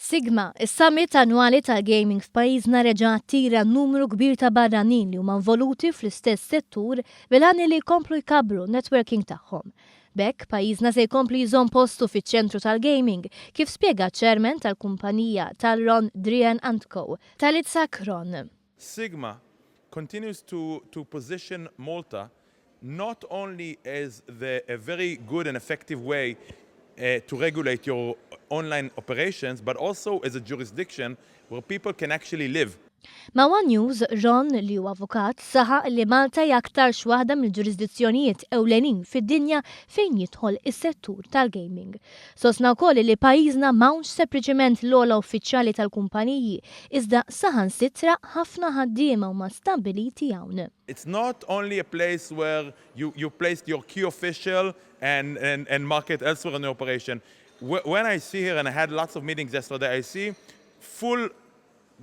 Sigma, is-summit annwali tal-gaming f'pajjiżna reġa' attira numru kbir ta' barranin li huma involuti fl-istess settur bil-għan li jkomplu jkabbru n-networking tagħhom. B'hekk, pajjiżna se jkompli jżomm postu fiċ-ċentru tal-gaming, kif spjega ċ-Chairman tal-kumpanija Talron Drian Antco, Talitza Kron. Sigma continues to to position Malta not only as the a very good and effective way to regulate your online operations but also as a jurisdiction where people can actually live. Ma' one News, Ron, li hu avukat, saħaq li Malta hi aktarx waħda mill-ġurisdizzjonijiet ewlenin fid-dinja fejn jidħol is-settur tal-gaming. Sostna wkoll li pajjiżna m'hawnx sepriċiment l-ogħla uffiċjali tal-kumpaniji, iżda saħansitra ħafna ħaddiema huma stabbiliti hawn. It's not only a place where you you placed your key official and and and market elsewhere in the operation. When I see here and I had lots of meetings yesterday I see full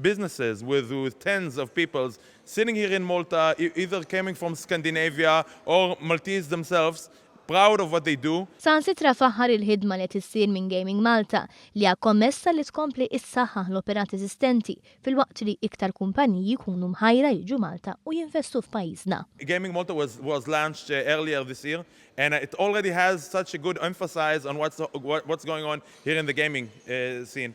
businesses with with tens of peoples sitting here in Malta either coming from Scandinavia or Maltese themselves proud of what they do. Saħansitra faħħar il-ħidma li qed issir minn Gaming Malta li hija kommessa li tkompli ssaħħaħ l-operat eżistenti filwaqt li iktar kumpaniji jkunu mħajra jiġu Malta u jinvestu f'pajjiżna. Gaming Malta was was launched earlier this year and it already has such a good emphasis on what's what's going on here in the gaming scene.